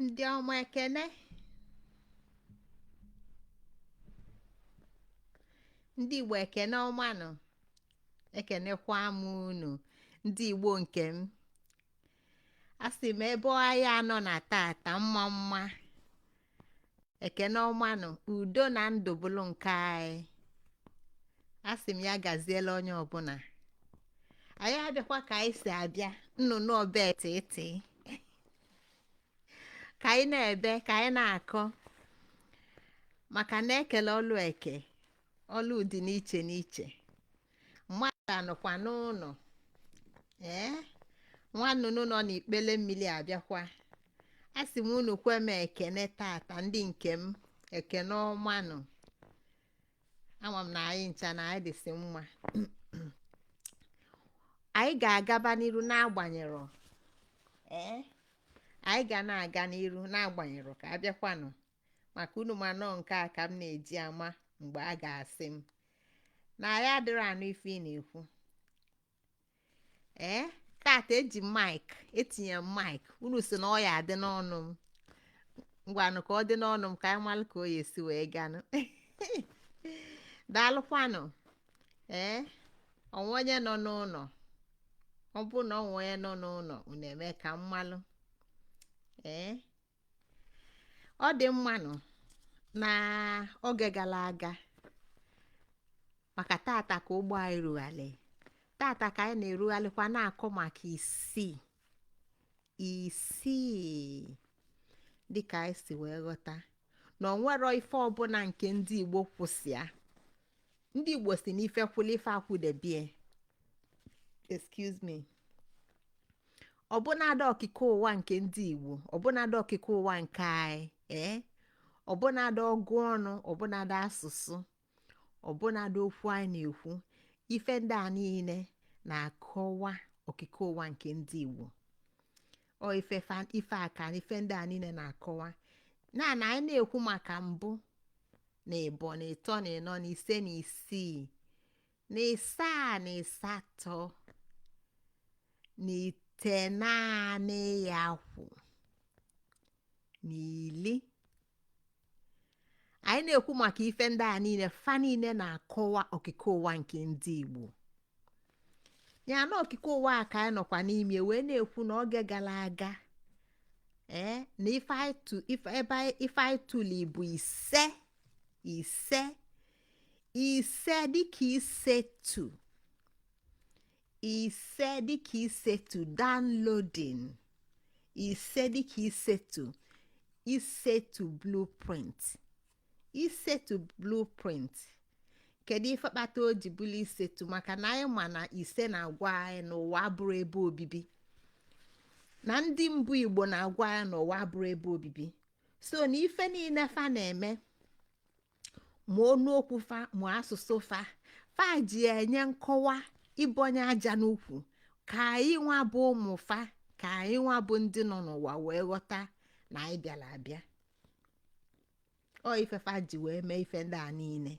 ndị ọma ekene ndị igbo ekene ọmanụ ekenekwa m unu ndị igbo nke m asị m ebe ọha anyị nọ na tata mma mma ekene ọmanụ udo na ndụ bụrụ nke anyị asị m ya gaziela onye ọbụla anyị abịakwa ka anyị si abịa nnụnụ ọba etiti ka anyị na-ebe ka anyị na-akọ maka na ekele ọlụ eke ọlụ dị n'iche n'iche mmadụ anọkwa n'ụlọ ee nwa nnụnụ nọ n'ikpele mmiri abịakwa a sị m unu kwe m ekene tata ndị nke m ekene ọmanụ ama m na anyị ncha na anyị dịsị mma anyị ga-agaba n'iru n'agbanyeghị ee anyị ga na-aga n'iru n'agbanyeghị ka abịakwanụ maka unu ma na ọ nke a ka m na-eji ama mgbe a ga-asị m na anyị adịrọ anụ ife ị na-ekwu ee tata eji m maịk etinye m maịk unu sị na ọ ya-adị n'ọnụ m ngwanụ ka ọ dị n'ọnụ m ka anyị malụ ka ọ ya-esi wee ganụ daalụkwanụ ee o nwee onye nọ n'ụlọ ọ bụrụ na o nwee onye nọ n'ụlọ unu eme ka m malụ ee ọ dị mma nụ na oge gara aga maka tata ka ụgbọ anyị rugharị tata ka anyị na-erugharịkwa na-akọ maka isii isii dịka anyị si wee ghọta na o nwerọ ife ọbụla nke ndị Igbo kwụ sọ ya ndị igbo sị na ife kwụlụ ife akwụdebe ye excuse me ọbụnadị okike ụwa nke ndị igbo ọbụnadị okike ụwa nke anyị ee ọbụnadị ọgụ ọnụ ọbụnadị asụsụ ọbụnadị okwu anyị na-ekwu ife ndị a niile na-akọwa okike ụwa nke ndị igbo ọ ife ife a ka ife ndị a niile na-akọwa na na anyị na-ekwu maka mbụ na ịbọ na ịtọ na ịnọ na ise na isii na ịsaa na ịsatọ na itenaanị ya kwụ na ili anyị na-ekwu maka ife ndị a niile fa niile na-akọwa okike ụwa nke ndị Igbo ya na okike ụwa a ka anyị nọkwa n'ime wee na-ekwu na oge gara aga ee na ife anyị tu- ife- ebe anyị- ife anyị tụle bụ ise ise ise dịka isetu ise dịka isetu downloading ise dịka isetu isetu blueprint isetu blueprint kedu ife kpata o ji bụrụ isetu maka na anyị ma na ise na-agwa anyị na ụwa abụrọ ebe obibi na ndị mbụ igbo na-agwa anyị na ụwa abụrọ ebe obibi so na ife niile fa na-eme ma ọnụ okwu fa ma asụsụ fa fa ji enye nkọwa ịbọnye aja n'ụkwụ ka anyị nwa bụ ụmụ fa ka anyị nwa bụ ndị nọ n'ụwa wee ghọta na anyị bịara abịa ọ ife fa ji wee mee ife ndị a niile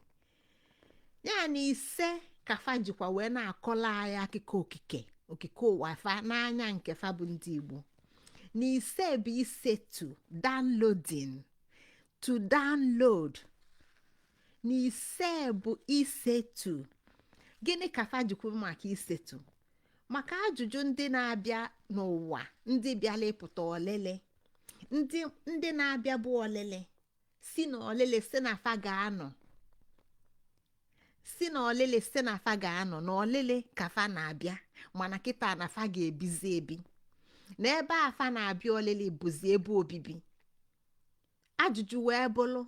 ya na ise ka fa jikwa wee na-akọlụ anyị akụkọ okike okike ụwa fa n'anya nke fa bụ ndị igbo na ise bụ isetu downloading to download na ise bụ isetu gịnị ka fa ji kwu maka isetu maka ajụjụ ndị na-abịa n'ụwa ndị bịala ịpụta ọlịlị ndị ndị na-abịa bụ ọlịlị si na ọlịlị si na fa ga-anọ si na ọlịlị si na fa ga-anọ na ọlịlị ka fa na-abịa mana kịta na fa ga-ebizi ebi na ebe a fa na-abịa ọlịlị bụzi ebe obibi ajụjụ wee bụrụ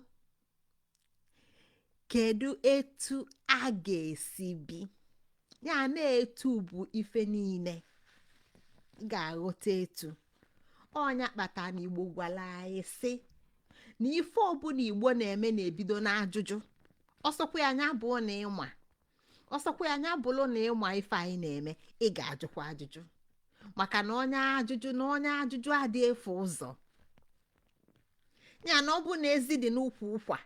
kedu etu a ga-esi bi ya na etu bụ ife niile ị ga-aghọta etu ọ nya kpata na igbo gwara anyị sị na ife ọbụla igbo na-eme na-ebido n'ajụjụ ọ sọkwa nya bụrụ na ị ma ọ sọkwa nya bụrụ na ị ma ife anyị na-eme ị ga-ajụkwa ajụjụ maka na onye ajụjụ na onye ajụjụ adị efu ụzọ ya na ọ bụ na ezi dị n'ukwu ụkwa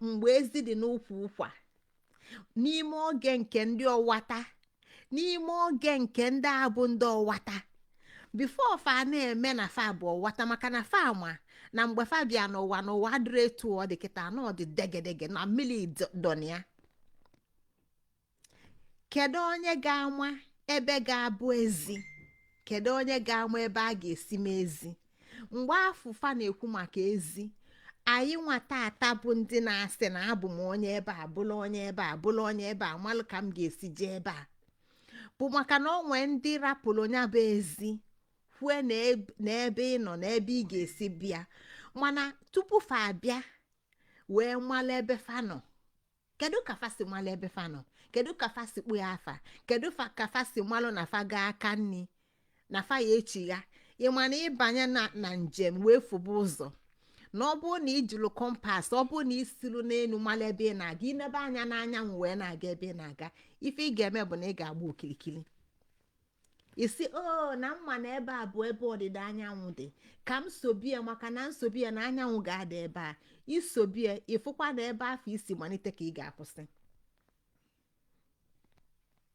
mgbe ezi dị n'ukwu ụkwa n'ime oge nke ndị ọwata n'ime oge nke ndị a bụ ndị ọwata before fa na-eme na fa bụ ọwata maka na fa ma na mgbe fa bịa n'ụwa na ụwa adịrọ etu ọ dị kịta na ọ dị degedege na mmiri dọ na ya kedu onye ga-ama ebe ga-abụ ezi kedu onye ga-ama ebe a ga-esi mee ezi mgbe afụ fa na-ekwu maka ezi anyị nwa taata bụ ndị na-asị na abụ m onye ebe a bụlụ onye ebe a bụlụ onye ebe a malụ ka m ga-esi jee ebe a bụ maka na o nwe ndị rapụrụ onye bụ ezi kwue na ebe ị nọ na ebe ị ga-esi bịa mana tupu fa abịa wee malụ ebe fa nọ kedu ka fa si malụ ebe fa nọ kedu ka fa si kpọ ya afa kedu fa- ka fa si malụ na fa gaa aka nni na fa ya echigha ịma na ịbanye na na njem wee fụba ụzọ na ọ bụrụ na ijilu compass ọ bụrụ na isilu n'elu malụ ebe ị na-aga inebe anya n'anyanwụ wee na-aga ebe ị na-aga ife ị ga-eme bụ na ị ga-agba okirikiri ị sị o na m ma na ebe a bụ ebe ọdịda anyanwụ dị ka m sobie maka na nsobie na anyanwụ ga-ada ebe a isobie ịfụkwa na ebe afụ i si malite ka ị ga-akwụsị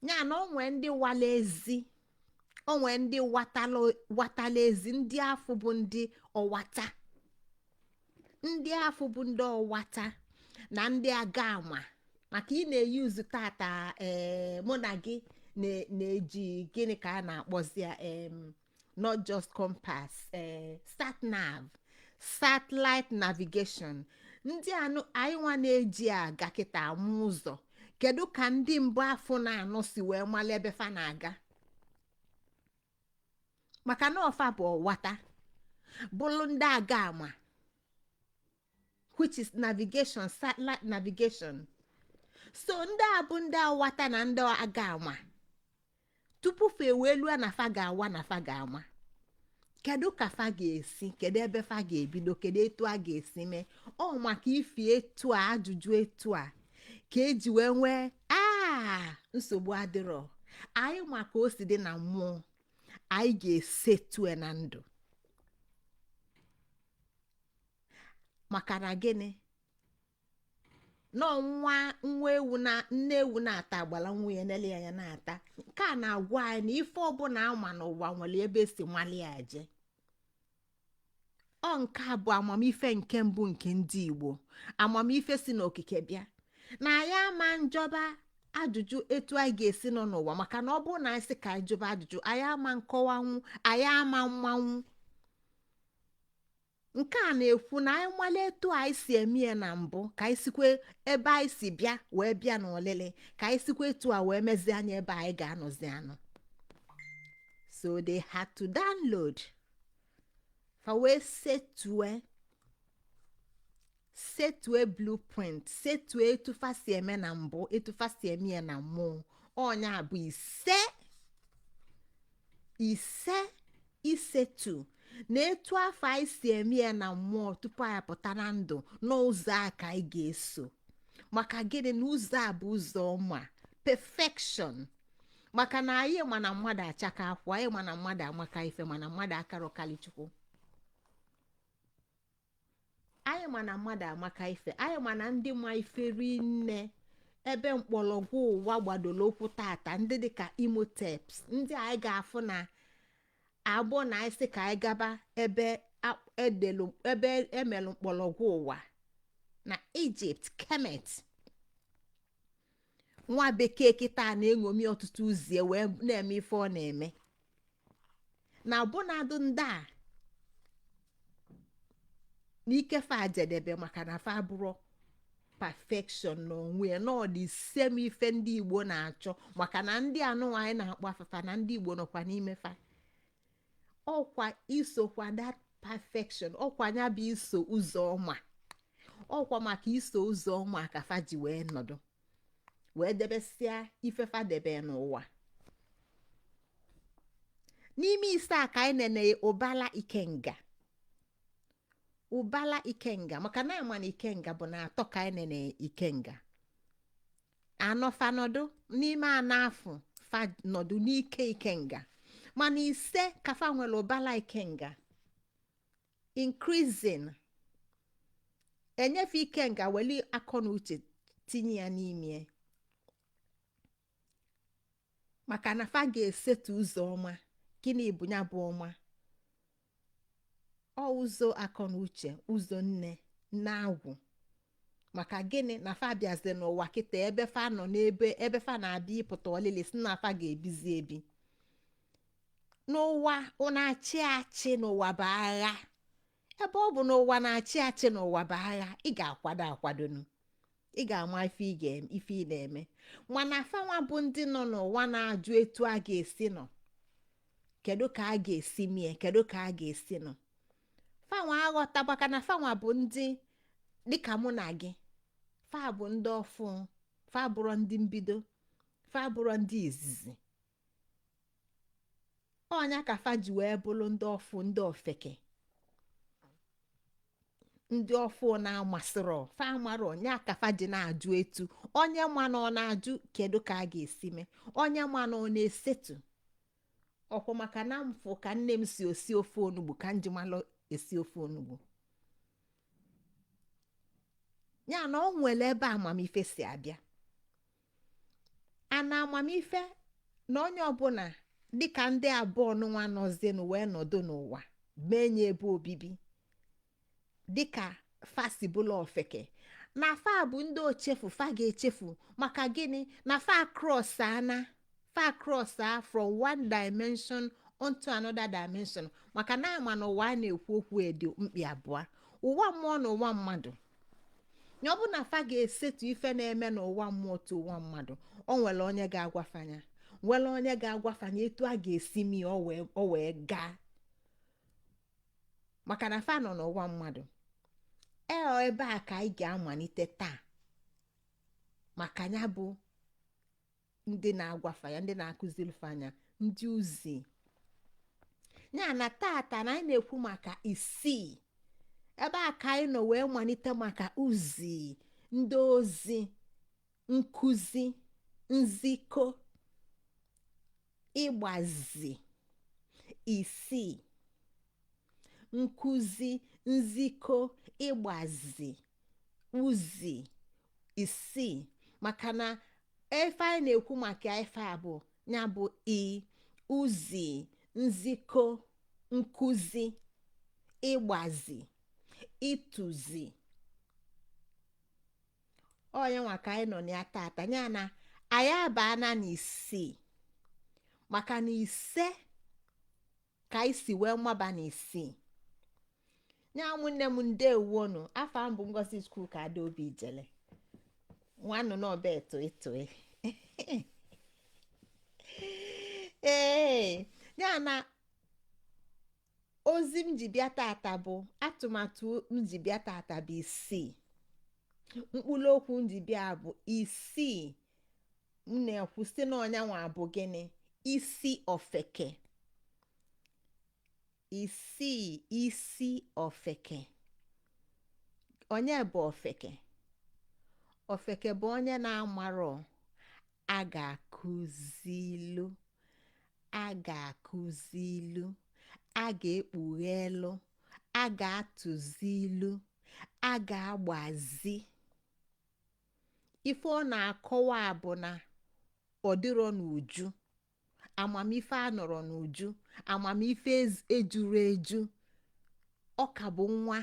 ya na o nwe ndị wala ezi o nwe ndị watala watala ezi ndị afụ bụ ndị ọwata ndị afụ bụ ndị ọwata na ndị aga ama maka ị na-e use tata ee mụ na gị na-eji gịnị ka a na-akpọzi ya not just compass ee sat nav satellite navigation ndị anyị nwa na-eji aga kịta ama ụzọ kedu ka ndị mbụ afụ na-anụ si wee malụ ebe fa na-aga maka na ọ fa bụ ọwata bụrụ ndị aga ama which is navigation satellite navigation so ndị a bụ ndị awata na ndị aga ama tupu fa ewee lue na fa ga-awa na fa ga-ama kedu ka fa ga-esi kedu ebe fa ga-ebido kedu etu a ga-esi mee ọ maka ifi etu a ajụjụ etu a ka e ji wee nwee aa nsogbu adịrọ anyị ma ka o si dị na mmụọ anyị ga-esetue na ndụ maka na gịnị na ọ nwa nwa ewu na nne ewu na-ata agbala nwa ya nele anya na-ata nke a na-agwa anyị na ife ọbụla a ma n'ụwa nwelu ebe e si mali ya je ọ nke a bụ amamife nke mbụ nke ndị igbo amamife si n'okike bịa na anyị ama njụba ajụjụ etu anyị ga-esi nọ n'ụwa maka na ọ bụrụ na anyị sị ka anyị jụba ajụjụ anyị ama nkọwanwu anyị ama mmanwụ nke a na-ekwu na anyị malụ etu anyị si eme ya na mbụ ka anyị sikwe ebe anyị si bịa wee bịa n'ọlịlị ka anyị sikwa etu a wee mezie anya ebe anyị ga-anọzi anọ so they had to download fa wee setue setue blueprint setue etu fa si eme na mbụ etu fa si eme ya na mmụọ ọ nya bụ ise ise isetu na etu afụ anyị si eme ya na mmụọ tupu anyị pụta na ndụ n'ụzọ a ka anyị ga-eso maka gịnị na ụzọ a bụ ụzọ ọma perfection maka na anyị ma na mmadụ achaka akwụ anyị ma na mmadụ amaka ife mana mmadụ akarọ kalị chukwu anyị ma na mmadụ amaka ife anyị ma na ndị ma ife rinne ebe mkpọrọgwụ ụwa gbadoro ụkwụ tata ndị dịka imhotep ndị anyị ga-afụ na ọ bụrụ na anyị sị ka anyị gaba ebe a- edelu ebe e melu mkpọrọgwụ ụwa na egypt kemet nwa bekee kịtaa na-eṅomi ọtụtụ uzie wee na-eme ife ọ na-eme na ọbụnadụ ndị a n'ike fa jedebe maka na fa abụrọ perfection n'onwe ya na ọ the same ife ndị igbo na-achọ maka na ndị a nụnwa anyị na-akpọ afa fa na ndị igbo nọkwa n'ime fa ọkwa isokwa that perfection ọkwa nya bụ iso ụzọ ọma ọkwa maka iso ụzọ ọma ka fa ji wee nọdụ wee debesịa ife fa debe n'ụwa n'ime ise a ka anyị nene ụbala ikenga ụbala ikenga maka na a ma na ikenga bụ na atọ ka anyị nene ikenga anọ fa nọdụ n'ime anọ afụ fa nọdụ n'ike ikenga mana ise ka fa nwere ụbala ikenga increasing enyefe ikenga weli akọ na uche tinye ya n'ime maka na fa ga-esetu ụzọ ọma gịnị bụ ya bụ ọma ọ ụzọ akọ na uche ụzọ nne na agwụ maka gịnị na fa bịazi n'ụwa kịta ebe fa nọ n'ebe ebe fa na-abịa ịpụta ọlịlị sị na fa ga-ebizi ebi n'ụwa na-achị achị na ụwa bụ agha ebe ọ bụ na ụwa na-achị achị na ụwa bụ agha ị ga-akwado akwadonụ ị ga-ama ife ị ga-eme ife ị na-eme mana fanwa bụ ndị nọ n'ụwa na-ajụ etu a ga-esi nọ kedu ka a ga-esi mie kedu ka a ga-esi nọ fanwa aghọtabakwa na fanwa bụ ndị dịka mụ na gị fa bụ ndị ọfụ fa bụrụ ndị mbido fa bụrụ ndị izizi ọ nya ka fa ji wee bụrụ ndị ọfụ ndị ofeke ndị ọfụ na-amasịrọ fa amarọ ọ nya ka fa ji na-ajụ etu onye ma na ọ na-ajụ kedu ka a ga-esi mee onye ma na ọ na-esetu ụkwụ maka na m fụ ka nne m si esi ofe onugbu ka m ji malụ esi ofe onugbu ya na ọ nwere ebe amamife si abịa ana amamife na onye ọbụla dịka ndị abụọ nụnwa nọzienụ wee nọdụ n'ụwa menye ebe obibi dịka fa si bụlụ ofeke na fa bụ ndị ochefu fa ga-echefu maka gịnị na fa cross ana fa cross a from one dimension onto another dimension maka na a ma na ụwa a na-ekwu okwu ọ dị mkpị abụọ ụwa mmụọ na ụwa mmadụ ya ọ bụ na fa ga-esetu ife na-eme n'ụwa mmụọ to ụwa mmadụ o nwere onye ga-agwa fa nya nwere onye ga-agwa fa nya etu a ga-esi mee ya o wee o wee gaa maka na fa nọ n'ụwa mmadụ eo ebe a ka anyị ga-amalite taa maka ya bụ ndị na-agwa fa ya ndị na-akụziri fa nya ndị ozi ya na tata na anyị na-ekwu maka isii ebe a ka anyị nọ wee malite maka uzi ndị ozi nkụzi nzikọ ịgbazi isii nkụzi nzikọ ịgbazi uzi isii maka na ife anyị na-ekwu maka ife a bụ ya bụ i uzi nzikọ nkụzi ịgbazi ịtụzi ọ nya nwa ka anyị nọ na ya tata ya na anyị abaana na isii maka na ise ka anyị si wee maba n'isii ya ụmụnne m ndewo nụ afa m bụ ngozichukwuka adaobi ijele nnọọ nụ n'ọba ụtụtụ ee ya na ozi m ji bịa tata bụ atụmatụ m ji bịa tata bụ isii mkpụrụ okwu m ji bịa bụ isii m na-ekwu sị na ọ nya nwa bụ gịnị isi ofeke isii isi ofeke onye bụ ofeke ofeke bụ onye na-amarọ a ga-akụzilu a ga-akụzilu a ga-ekpughelu a ga-atụzilu a ga-agbazi ife ọ na-akọwa bụ na ọ dịrọ n'uju amamife anọrọ n'uju amamife ejurọ eju ọ ka bụ nwa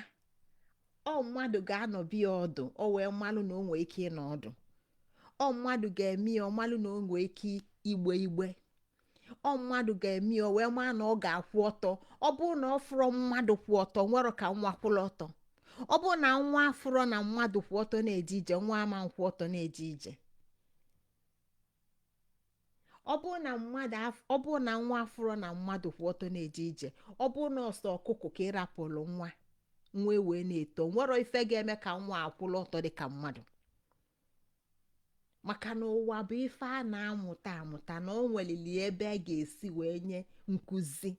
ọ mmadụ ga-anọbe ya ọdụ o wee malụ na o nwee ike ịnọ ọdụ ọ mmadụ ga-eme ya ọ malụ na o nwee ike igbe igbe ọ mmadụ ga-eme ya o wee maa na ọ ga-akwụ ọtọ ọ bụrụ na ọ fụrọ mmadụ kwụ ọtọ nwerọ ka nwa kwụrụ ọtọ ọ bụrụ na nwa afụrọ na mmadụ kwụ ọtọ na-eje ije nwa ama akwụ ọtọ na-eje ije ọ bụrụ na mmadụ af- ọ bụrụ na nwa afụrọ na mmadụ kwụ ọtọ na-eje ije ọ bụrụ na ọ sọ ọkụkọ ka ị rapụrụ nwa nwa wee na-eto nwerọ ife ga-eme ka nwa kwụrụ ọtọ dị ka mmadụ maka na ụwa bụ ife a na-amụta amụta na o nwelili ebe a ga-esi wee nye nkụzi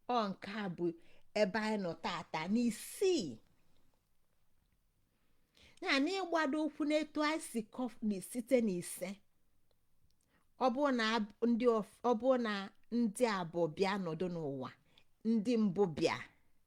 ọ nke a bụ ebe anyị nọ tata n'isii ya na ịgbado ụkwụ n'etu anyị si kọfni site n'ise ọ bụ na ndị abụọ bịa nọdụ n'ụwa ndị mbụ bịa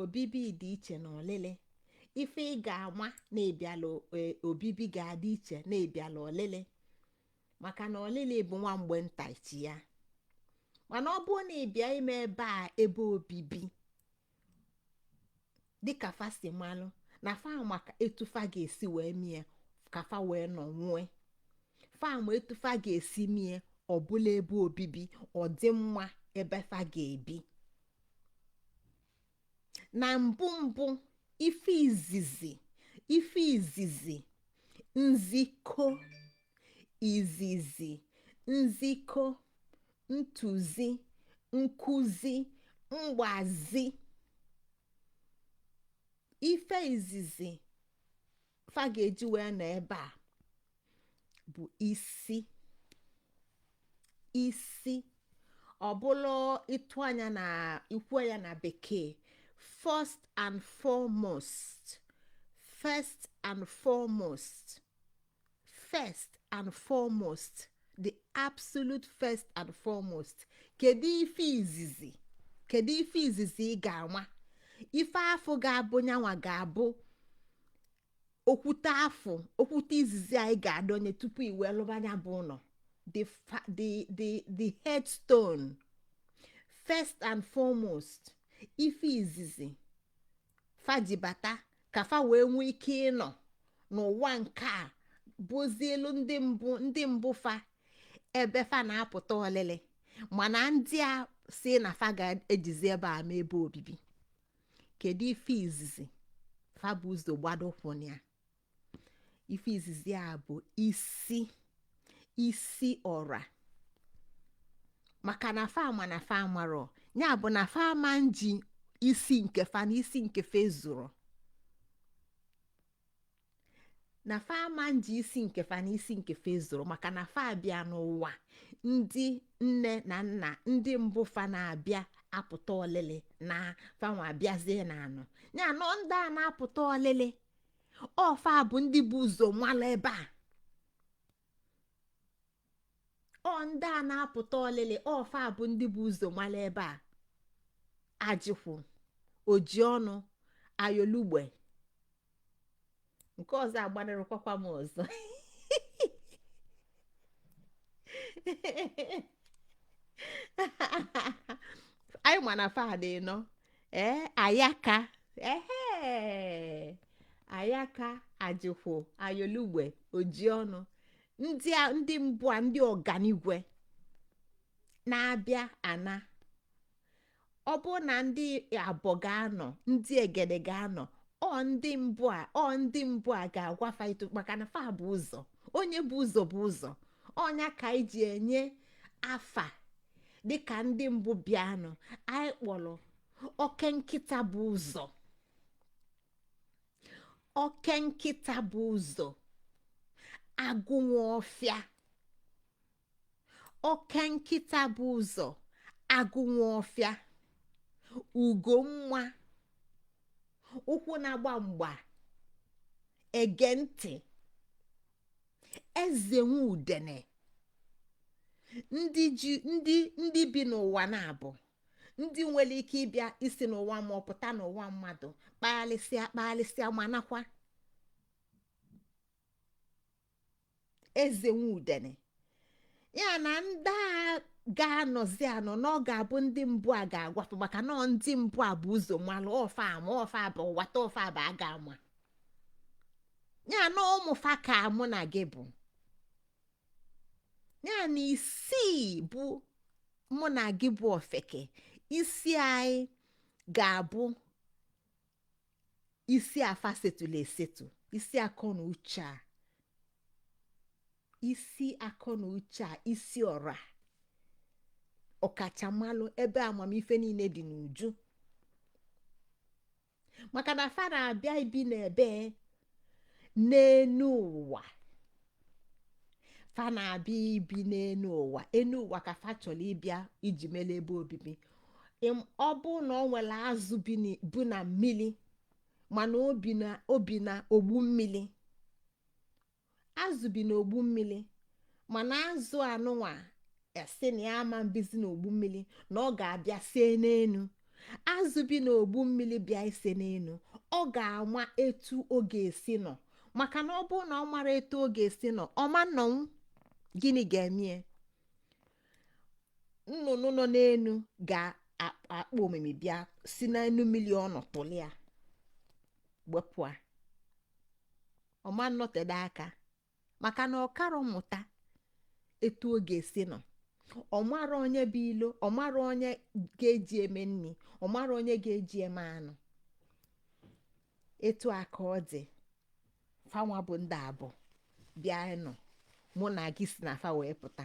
obibi dị iche na ọlịlị ife ị ga-ama na-ebiala e, obibi ga-adị iche na-ebiala ọlịlị maka na ọlịlị bụ nwa mgbe nta ichi ya mana ọ bụrụ na ị bịa ime ebe a ebe obibi dịka fa si malụ na fa ma etu fa ga-esi wee mie ka fa wee nọnwue fa ma etu fa ga-esi mie ọ bụlụ ebe obibi ọ dị mma ebe fa ga-ebi na mbụ mbụ ife izizi ife izizi nzikọ izizi nzikọ ntụzi nkụzi mgbazi ife izizi fa ga-eji wee nọ ebe a bụ isi isi ọ bụlụ ịtụ anya na ikwu ya na bekee first and foremost first and foremost first and foremost the absolute first and foremost kedu ife izizi kedu ife izizi ị ga-ama ife afụ ga-abụ nyanwa ga-abụ okwute afụ okwute izizi ị ga-adọnye tupu i wee lụba nya bụ ụlọ the the the the headstone first and foremost ife izizi fa ji bata ka fa wee nwee ike ịnọ n'ụwa nke a bụzịlụ ndị mbụ ndị mbụ fa ebe fa na-apụta ọlịlị mana ndị a si na fa ga-ejizi ebe a mee ebe obibi kedu ife izizi fa bu ụzọ gbado ụkwụ na ya ife izizi a bụ isi isi ọra maka na fa ma na fa amarọ ya bụ na fa ama eji isi nke fa na isi nke fa ezurọ na fa ama eji isi nke fa na isi nke fa ezurọ maka na fa abịa n'ụwa ndị nne na nna ndị mbụ fa na-abịa apụta ọlịlị na fanwa abịazie na-anọ ya anọ ndị a na-apụta ọlịlị ọ fa bụ ndị bu ụzọ malụ ebe a ọ ndị a na-apụta olili ọ fa bụ ndị bu ụzọ malụ ebe a ajịkwụ oji ọnụ ayolugbe nke ọzọ agbanarịkwakwa m ọzọ anyị ma na fa dị ịnọ ee ayaka ehe ayaka ajịkwụ ayolugbe oji ọnụ ndị a ndị mbụ a ndị ọganigwe na-abịa ana ọ bụ na ndị abọ ga-anọ ndị egede ga-anọ ọ ndị mbụ a ọ ndị mbụ a ga-agwa fa ịtọ maka na fa bu ụzọ onye bu ụzọ bu ụzọ ọ nya ka anyị ji enye afa dịka ndị mbụ bịanụ anyị kpọlọ oke nkịta bu ụzọ oke nkịta bu ụzọ agụ nwe ọfịa oke nkịta bu ụzọ agụ nwe ọfịa ugo nwa ụkwụ na-agba mgba ege ntị eze nwe udene ndị ji ndị ndị bi n'ụwa na-abụ ndị nwelu ike ịbịa isi n'ụwa ma ọ pụta n'ụwa mmadụ kpagharịsịa kpagharịsịa ma nakwa eze nwe udene ya na ndị a ga-anọzi anọ na ọ ga-abụ ndị mbụ a ga-agwa fa maka na ọ ndị mbụ a bu ụzọ malụ ọ fa ama ọ fa bụ wata ọ fa bụ a ga-ama ya na ụmụ fa ka mụ na gị bụ ya na isi bụ mụ na gị bụ ofeke isi anyị ga-abụ isi afa setụlụ esetụ isi akọ na uche a isi akọ na uche a isi ọra ọkachamalụ ebe amamife nine dị n'uju maka na fa na-abịa ibi n'ebe n'enu ụwa fa na-abịa ibi n'enu ụwa enu ụwa ka fa chọlụ ịbịa iji melu ebe obibi ọ bụ na o nwelu azụ bu na mmili mana o bi na ogbu mmili azụ bi n'ogbu mmili mana azụ anụnwa asị na ya ama mbizi n'ogbu mmili na ọ ga-abịa sie n'enu azụ bi n'ogbu mmili bịa ise n'enu ọ ga-ama etu ọ ga-esi nọ maka na ọ bụrụ na ọ marọ etu ọ ga-esi nọ ọ ma nnọnwu gịnị ga-emie nnụnụ nọ n'enu ga-akpọ omimi bịa si n'enu mmili ọ nọ tụlịa wepụ a ọ ma nnọtede aka maka na ọ karọ mmụta etu ọ ga-esi nọ ọ marọ onye bụ ilo ọ marọ onye ga-eji eme nri ọ marọ onye ga-eji eme anụ etu a ka ọ dị fanwa bụ ndị abụ bịa nọ mụ na gị si na fa wee pụta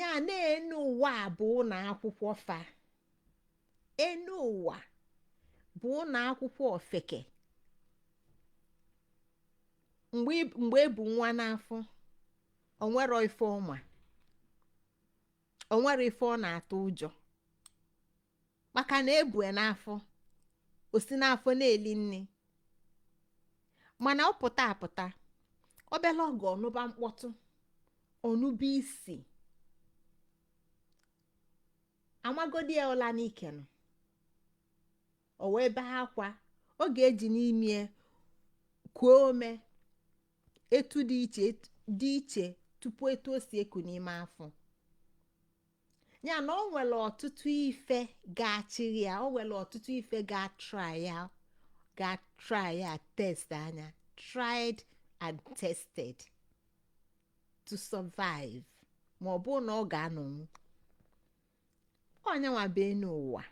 ya na enu ụwa a bụ ụnọ akwụkwọ fa enu ụwa bụ ụnọ akwụkwọ ofeke mgbe e bu nwa n'afọ o nwerọ ife ọ ma o nwerọ ife ọ na-atụ ụjọ maka na e bue n'afọ o si n'afọ na-eli nni mana ọ pụta apụta obele oge ọ nụba mkpọtụ ọ nụba isi a magodi ya ụla n'ike nọ o wee bee akwa ọ ga-eji n'imi kuo ume etu dị iche tupu etu o si eku n'ime afọ ya na o nwere ọtụtụ ife ga-eche ya o nwere ọtụtụ ife ga-atry ya test anya tried and tested to survive ma ọ bụ na ọ ga-anọnwu onye nwa bịa n'ụwa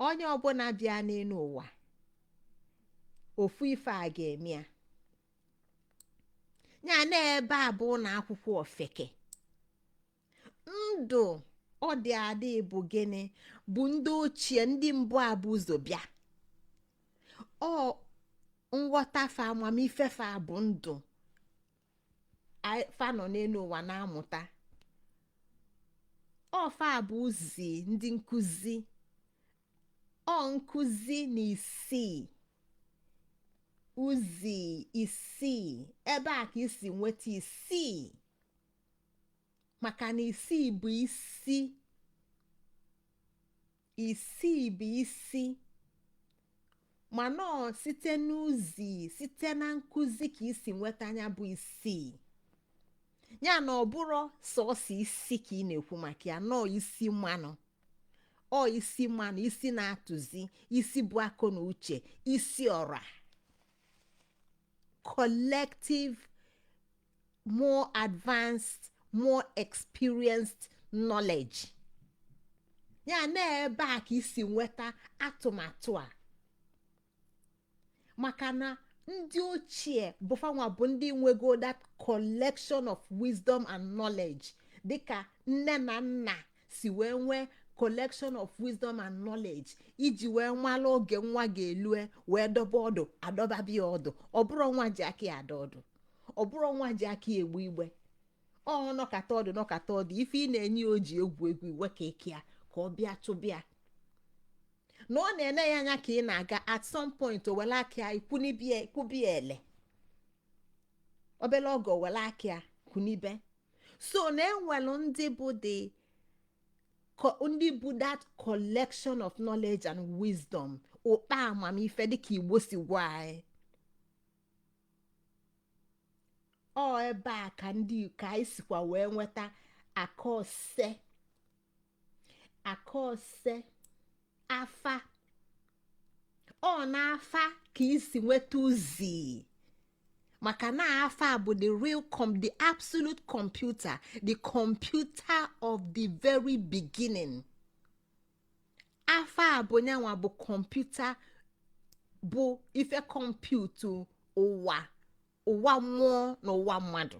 onye ọbụla bịa n'enu ụwa ofu ife a ga-eme ya ya na ebe a bụ ụnọ akwụkwọ ofeke ndụ ọ dị adị bụ gịnị bụ ndị ochie ndị mbụ a bu ụzọ bịa ọ nghọta fa amamife fa bụ ndụ fa nọ n'enu ụwa na-amụta ọ fa bụzi ndị nkụzi ọ nkụzi na isii uzi isii ebe a ka e si nweta isii maka na isii bụ isi isii bụ isi mana ọ site n'uzi site na nkụzi ka e si nweta nya bụ isii ya na ọ bụrụ sọsọ isi ka ị na-ekwu maka ya nọọ isi mmanụ ọ isi mmanụ isi na-atụzi isi bụ akọ na uche isi ọra collective more advanced more experienced knowledge ya na ebe a ka i si nweta atụmatụ a maka na ndị ochie bụ fanwa bụ ndị nwego that collection of wisdom and knowledge dịka nne na nna si wee nwee collection of wisdom and knowledge iji wee nwala oge nwa ga-elue wee dọba ọdụ a dọbaba ya ọdụ ọ bụrụ nwa ji aka ya ada ọdụ ọ bụrụ nwa ji aka ya egbu igbe ọ nọkata ọdụ nọkata ọdụ ife ị na-enye ya o ji egwu egwu iwe ka eke ya ka ọ bịa chụba ya na ọ na-ene ya anya ka ị na-aga at some point o wele aka ya kwubie ele obele oge o wele aka ya kwunibe so na e nwelu ndị bụ the co- ndị bụ that collection of knowledge and wisdom ụkpa amamife dịka igbo si gwa anyị ọ ebe a ka anyị sikwa wee nweta aka ose aka ose afa ọ n'afa ka i si nweta uzi maka na afa bụ the real com the absolute computer the computer of the very beginning afa bụ nyanwa bụ computer bụ ife kọmputu ụwa ụwa mmụọ na ụwa mmadụ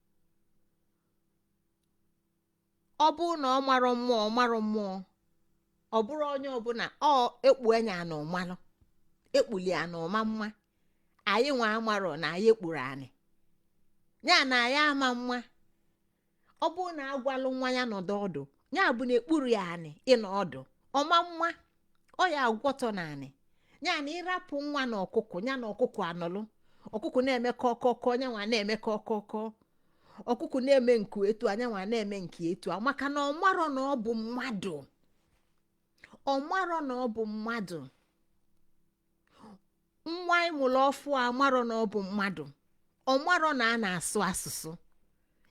ọ bụ na ọ marọ mmụọ ọ marọ mmụọ ọ bụrụ onye ọbụna ọ e kpu anya na ọ malụ e kpurọ ya na ọ ma ama anyị nwa amarọ na anyị e kpurọ anyị ya na anyị ama ama ọ bụ na a gwalụ nwa ya nọdụ ọdụ ya bụ na e kpurọ ya anya ịnọ ọdụ ọ ma ama ọ ya agwọtọ naanị ya na ị rapụ nwa na ọkụkụ ya na ọkụkụ anọlụ ọkụkụ na-eme kọkọkọ nyanwa na-eme kọkọkọ ọkụkụ na-eme nku etu a nyanwa na-eme nku etu a maka na ọ marọ na ọ bụ mmadụ ọ marọ na ọ bụ mmadụ nwa ị mụrụ ọfụ amarọ na ọ bụ mmadụ ọ marọ na a na-asụ asụsụ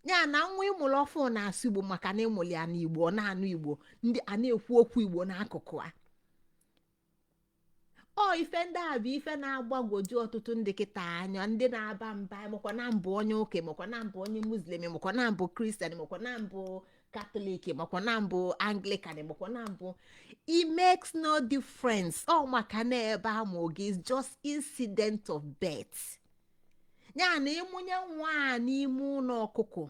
ya na nwa ị mụrụ ọfụ na-asụ igbo maka na ị mụrụ ya na igbo ọ na-anụ igbo ndị a na-ekwu okwu igbo n'akụkụ a ọ ife ndị a bụ ife na-agbagwoju ọtụtụ ndị kịta anya ndị na-aba mba makwa na m bụ onye ụka makwa na m bụ onye muslim makwa na m bụ kristian makwa na m bụ catholic makwa na m bụ anglican makwa na m bụ it makes no difference ọ maka na ebe a mụọ gị is just incident of birth ya na ị mụnye nwa n'ime ụlọ ọkụkọ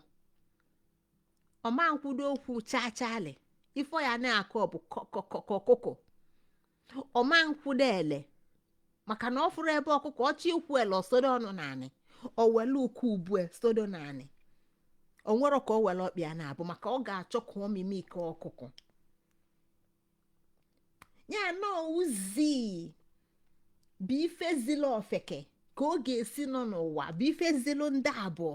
ọ ma nkwudo okwu chachali ife ọ ya na-akọ bụ kọkọkọkụkọ ọ ma nkwụdo ele maka na ọ fụrụ ebe ọkụkọ ọchị ikwu ele o sodo ọnụ n'anị o wele ụkwụ ubue sodo n'anị o nwere ka o wele ọkpa ya na-abọ maka ọ ga-achọ ka ọ mimic ọkụkọ ya na ozi bụ ife zila ofeke ka ọ ga-esi nọ n'ụwa bụ ife zilu ndị abụọ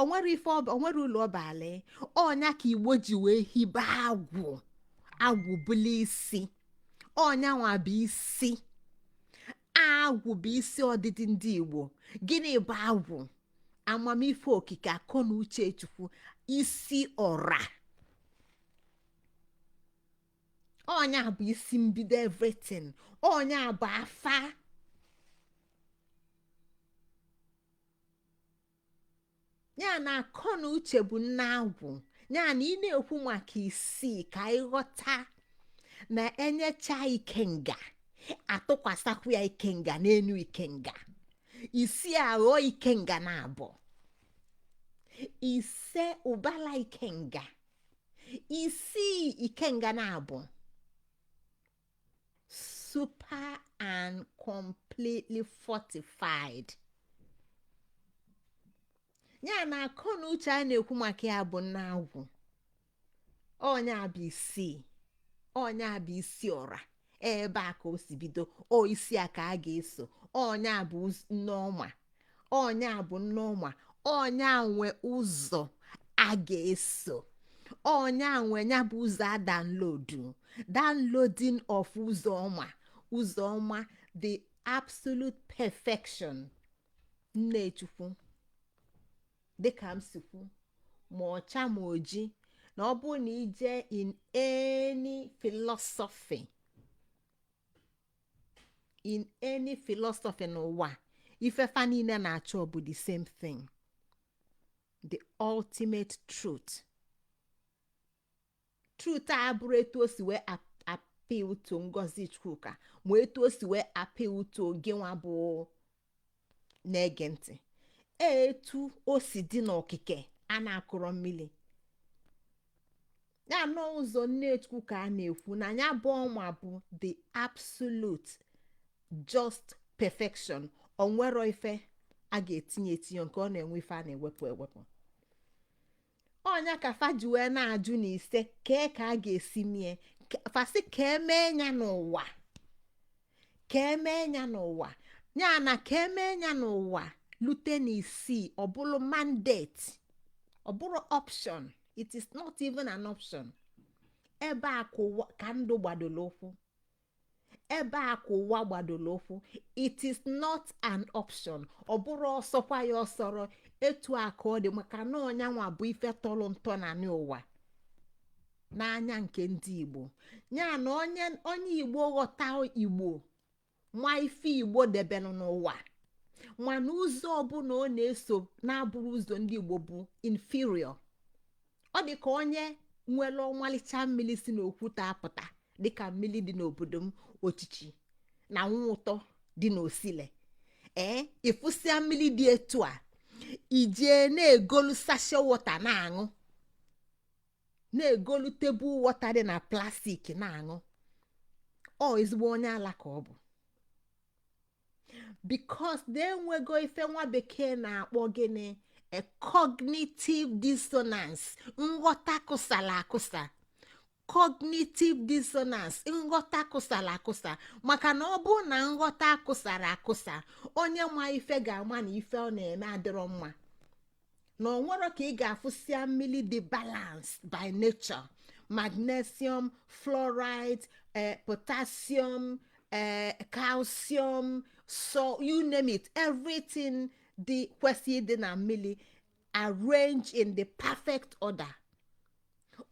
o nwere ife ọba o nwere ụlọ ọba ala onye a ka igbo ji wee hibe agwụ agwụ ọ bụla isi onye a nwa bụ isi agwụ bụ isi ọdịdị ndị igbo gịnị bụ agwụ amamife okike akọ na uche chukwu isi ọra onye a bụ isi mbido everything onye a bụ afa ya na akọ na uche bụ nna agwụ ya na ị na-ekwu maka isii ka ị ghọta na e nyecha ikenga a tụkwasakwu ya ikenga n'enu ikenga isi aghọ ikenga naabọ ise ụbala ikenga isii ikenga naabọ super and completely fortified ya na akọ na uche a na-ekwu maka ya bụ nna agwụ onye a bụ isi onye a bụ isi ọra ebe a ka o si bido ọ isi a ka a ga-eso onye a bụ nneọma onye a bụ nneọma onye a nwe ụzọ a ga-eso onye a nwe ya bụ ụzọ a download downloading of ụzọ ọma ụzọ ọma the absolute perfection nnechukwu dịka m si kwu ma ọcha ma oji na ọ bụ na ị je in any philosophy in any philosophy n'ụwa ife fa niile na-achọ bụ the same thing the ultimate truth truth abụrọ etu o si wee appeal to ngozi chukwuka ma etu o si wee appeal to gị nwa bụ na-ege ntị etu o si dị n'okike a na-akụrọ mmili ya na ụzọ nnechukwu ka a na-ekwu na ya bụ ọma bụ the absolute just perfection o nwerọ ife a ga-etinye etinye nke ọ na-enwe ife a na-ewepụ ewepụ ọ nya ka fa ji wee na-ajụ na ise kee ka a ga-esi mee fa sị ka emee ya n'ụwa ka emee ya n'ụwa ya na ka emee ya n'ụwa lute na isii ọ bụrụ mandate ọ bụrọ option it is not even an option ebe a ka ndụ gbadolo ụkwụ ebe a ka ụwa gbadolo ụkwụ it is not an option ọ bụrọ ọ sọkwa ya o soro etu a ka ọ dị maka na ọ nyanwa bụ ife tọrọ ntọ n'anị ụwa n'anya nke ndị igbo ya na onye igbo ghọta igbo ma ife igbo debelu n'ụwa ma na ụzọ ọbụla ọ na-eso na-abụrọ ụzọ ndị igbo bụ inferior ọ dị ka onye nwere ọmalịcha mmiri si n'okwute apụta dị ka mmiri dị n'obodo m ochichi na nwa ụtọ dị n'osile ee ị fụsịa mmiri dị etu a i jee na-egolu sachet water na-aṅụ na-egolu table water dị na plastic na-aṅụ ọ ezigbo onye ala ka ọ bụ because na e nwego ife nwa bekee na-akpọ gịnị a cognitive dissonance nghọta kụsara akụsa cognitive dissonance nghọta kụsara akụsa maka na ọ bụ na nghọta akụsarọ akụsa onye ma ife ga-ama na ife ọ na-eme adịrọ mma na o nwerọ ka ị ga-afụsịa mmiri dị balanced by nature magnesium fluoride eh, potassium eh, calcium so you name it everything dị kwesịrị ịdị na mmiri arranged in the perfect order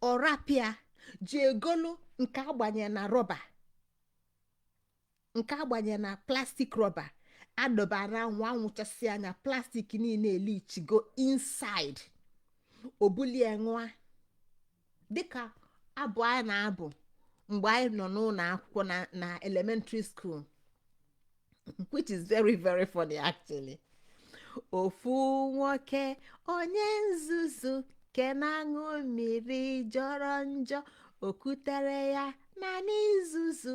ọ rapụ ya jee golu nke a gbanye na rọba nke a gbanye na plastic rọba a dọba na anwụ anwụ chasịa nya plastic niile elichigo inside o bulie ṅụa dịka abụ a na-abụ mgbe anyị nọ n'ụlọ akwụkwọ na elementary school which is very very funny actually ofu nwoke onye nzuzu ke na-aṅụ mmiri jọrọ njọ o kutere ya na nzuzu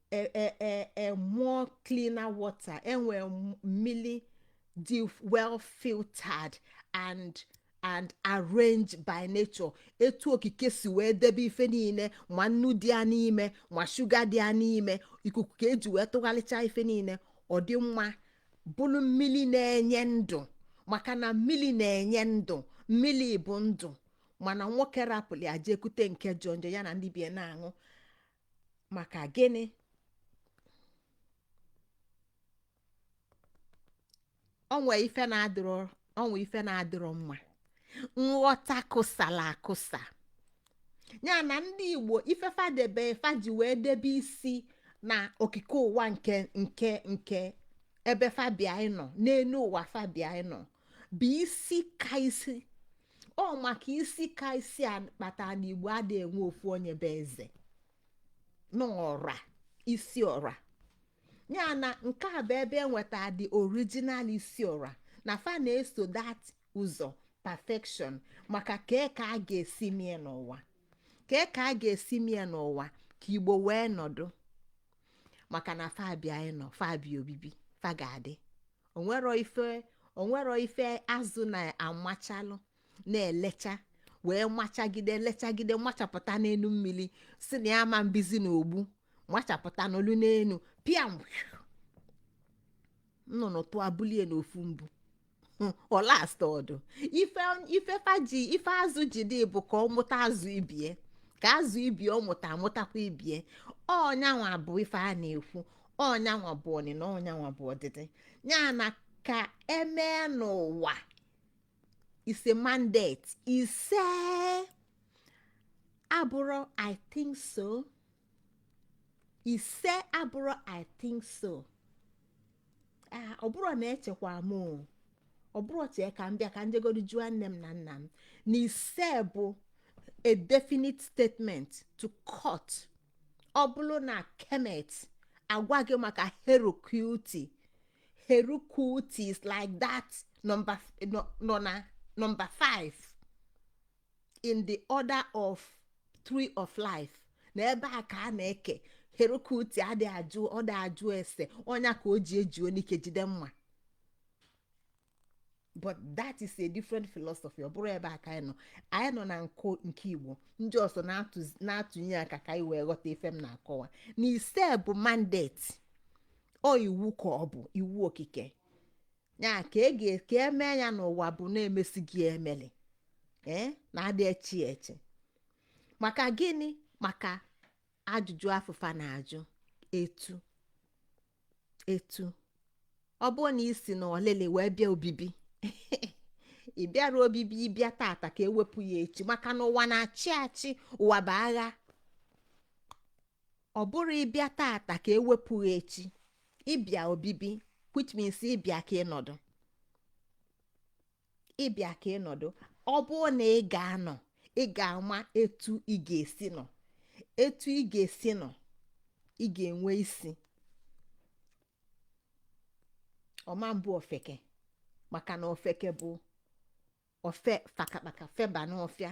e, e, e, e more cleaner water e nwe mmiri dị well filtered and arranged by nature etu okike si wee debe ife niile ma nnu dị ya n'ime ma sugar dị ya n'ime ikuku ka e ji wee tụgharịcha ife niile ọ dị mma bụrụ mmiri na-enye ndụ maka na mmiri na-enye ndụ mmiri bụ ndụ mana nwoke rapụrụ ya jee kute nke jọ njọ ya na ndị be ya na-aṅụ maka gịnị o nwe ife na-adịrọ o nwe ife na-adịrọ mma nghọta kụsala akụsa ya na ndị igbo ife fa debe fa ji wee debe isi na okike ụwa nke nke nke ebe fa bịa ịnọ n'elu ụwa fa bịa ịnọ bụ isi ka isi ọ maka isi ka isi a kpata na igbo adịrọ enwe ofu onye bụ eze n'ọra isi ọra ya na nke a bụ ebe e nweta the original isi ọra na fa na-eso that ụzọ perfection maka kee ka a ga-esi mie n'ụwa kee ka a ga-esi mie n'ụwa ka igbo wee nọdụ maka na fa bịa ịnọ fa bịa obibi fa ga-adị o nwerọ ife o nwerọ ife azụ na-amachalụ na-elecha wee machagide lechagide machapụta n'elu mmiri sị na ya ama ebizi na ogbu machapụta n'olu n'elu pịam nnụnụ tụọ bulie n'ofu mbụ ọ last ọdụ ife ife faji ife azụ ji dị bụ ka ọ mụta azụ ibie ka azụ ibie ọ mụta amụtakwa ibie ọ nyanwa bụ ife a na-ekwu ọ nyanwa bụ ọnụnọ ọ nyanwa bụ ọdịdị ya na ka e mee n'ụwa ise mandate ise abụrọ i think so ise abụrọ i think so Ah, ọ bụrọ na echekwa m o. ọ bụrọ chee ka m bịa ka m jegodu jụọ nne m na nna m na ise bụ a definite statement to court ọ bụrụ na kemet agwa gị maka herukhuti herukhuti is like that number nọ na number 5 in the order of tree of life na ebe a ka a na-eke herukhuti adị ajụ ọ dị ajụ ese ọ nya ka o ji eji onike jide mma but that is a different philosophy ọ bụrọ ebe a ka anyị nọ anyị nọ na nkụ nke igbo ndị ọzọ na-atụnye aka ka anyị wee ghọta ife m na-akọwa na ise bụ mandate ọ iwu ka ọ bụ iwu okike ya ka e ka e mee ya n'ụwa bụ na-emesi gị emeli ee eh, na-adị echi echi maka gịnị maka ajụjụ afụ fa na-ajụ etu etu ọ bụrụ na i si na ọlịlị wee bịa obibi ị bịara obibi ị bịa tata ka e wepụ ya echi maka na ụwa na-achị achị ụwa bụ agha ọ bụrọ ị bịa tata ka e wepụ ya echi ị bịa obibi which means ị bịa ka ị nọdụ ị bịa ka ị nọdụ ọ bụrụ na ị ga-anọ ị ga-ama etu ị ga-esi nọ etu ị ga-esi nọ ị ga-enwe isi ọma mbụ ofeke maka na ofeke bụ ofe fakakpaka o feba n'ọfịa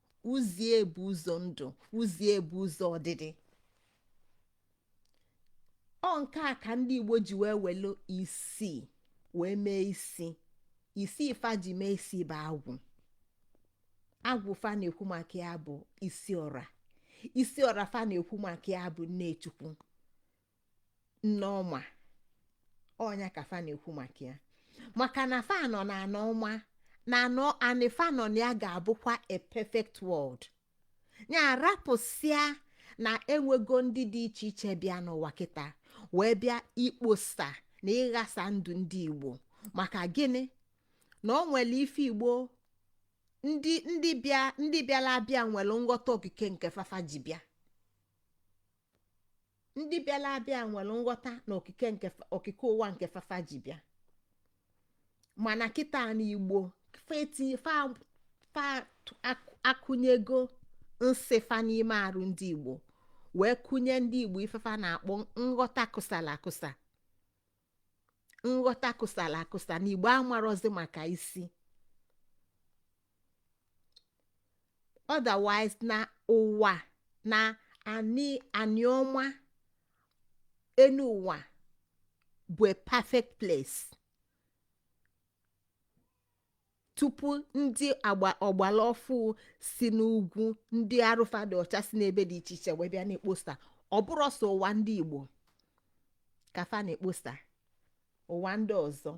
kwuzie bụ ụzọ ndụ kwuzie bụ ụzọ ọdịdị ọ nke a ka ndị igbo ji wee welu isii wee mee isi isi fa ji mee isi bụ agwụ agwụ fa na-ekwu maka ya bụ isi ọra isi ọra fa na-ekwu maka ya bụ nne chukwu nneọma ọ nya ka fa na-ekwu maka ya maka na fa nọ na anị ọma na anọ anị fa nọ na ya ga-abụkwa a perfect world ya rapụsịa na enwego ndị dị iche iche bịa n'ụwa kịta wee bịa ikposa na ịghasa ndụ ndị igbo maka gịnị na o nwere ife igbo ndị ndị bịa ndị bịara abịa nwere nghọta okike nke fa fa ji bịa ndị bịara abịa nwere nghọta na okike nke fa- okike ụwa nke fa fa ji bịa mana kịta na igbo fa eti- fa fa tụ- ak- akụnyego nsị fa n'ime arụ ndị igbo wee kụnye ndị igbo ife fa na-akpọ nghọta kụsala akụsa nghọta kụsala akụsa na igbo amarọzi maka isi otherwise na ụwa na anị anị ọma enu ụwa bụ a perfect place tupu ndị agba ọgbala ọfụ si n'ugwu ndị arụ fa dị ọcha si n'ebe dị iche iche wee bịa na-ekposa ọ bụrọ sọ ụwa ndị igbo ka fa na-ekposa ụwa ndị ọzọ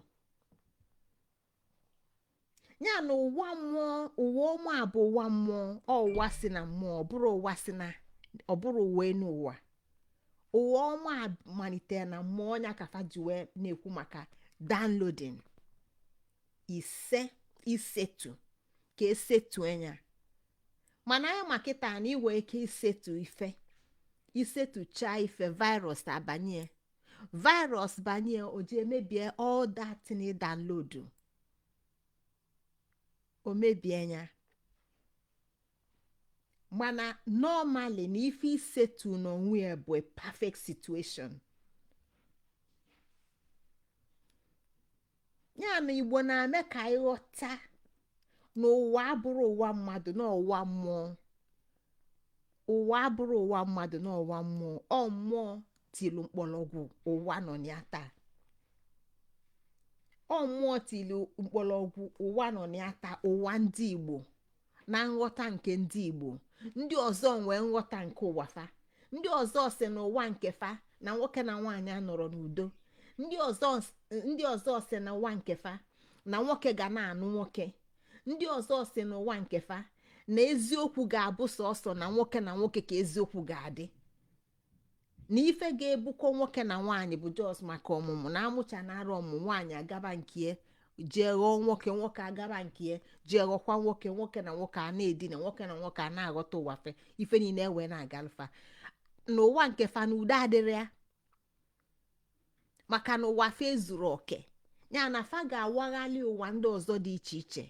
ya na ụwa mmụọ ụwa ọma bụ ụwa mmụọ ọ ụwa si na mmụọ ọ bụrọ ụwa si na ọ bụrọ ụwa enu ụwa ụwa ọma malitere na mmụọ ọ nya ka fa ji wee na-ekwu maka downloading ise isetu ka e setu nya mana anyị ma kịta na i nwe ike isetu ife i setuchaa ife virus abanye virus banye o ji emebie all that na download o mebie nya mana normally na ife i setu n'onwe ya bụ a perfect situation ya na igbo na-eme ka anyị ghọta na ụwa abụrụ ụwa mmadụ na ụwa mmụọ ụwa abụrụ ụwa mmadụ na ụwa mmụọ ọ mmụọ tilu mkpọrọgwụ ụwa nọ ya taa ọ mmụọ tilu mkpọrọgwụ ụwa nọ ya taa ụwa ndị igbo na nghọta nke ndị igbo ndị ọzọ nwee nghọta nke ụwa fa ndị ọzọ si n'ụwa nke fa na nwoke na nwaanyị anọrọ n'udo ndị ọzọ ndị ọzọ si n'ụwa nke fa na nwoke ga na-anụ nwoke ndị ọzọ si n'ụwa nke fa na eziokwu ga-abụ sọsọ na nwoke na nwoke ka eziokwu ga-adị na ife ga-ebukọ nwoke na nwaanyị bụ just maka ọmụmụ na amụcha na arụ ọmụmụ nwaanyị agaba nkie jee ghọọ nwoke nwoke agaba nkie jee ghọkwa nwoke nwoke na nwoke a na-edina nwoke na nwoke a na-aghọta ụwa fa ife niile ewee na-agalụ fa n'ụwa nke fa na udo adịrọ ya maka na ụwa fa ezuro oke ya na fa ga-awaghalị ụwa ndị ọzọ dị iche iche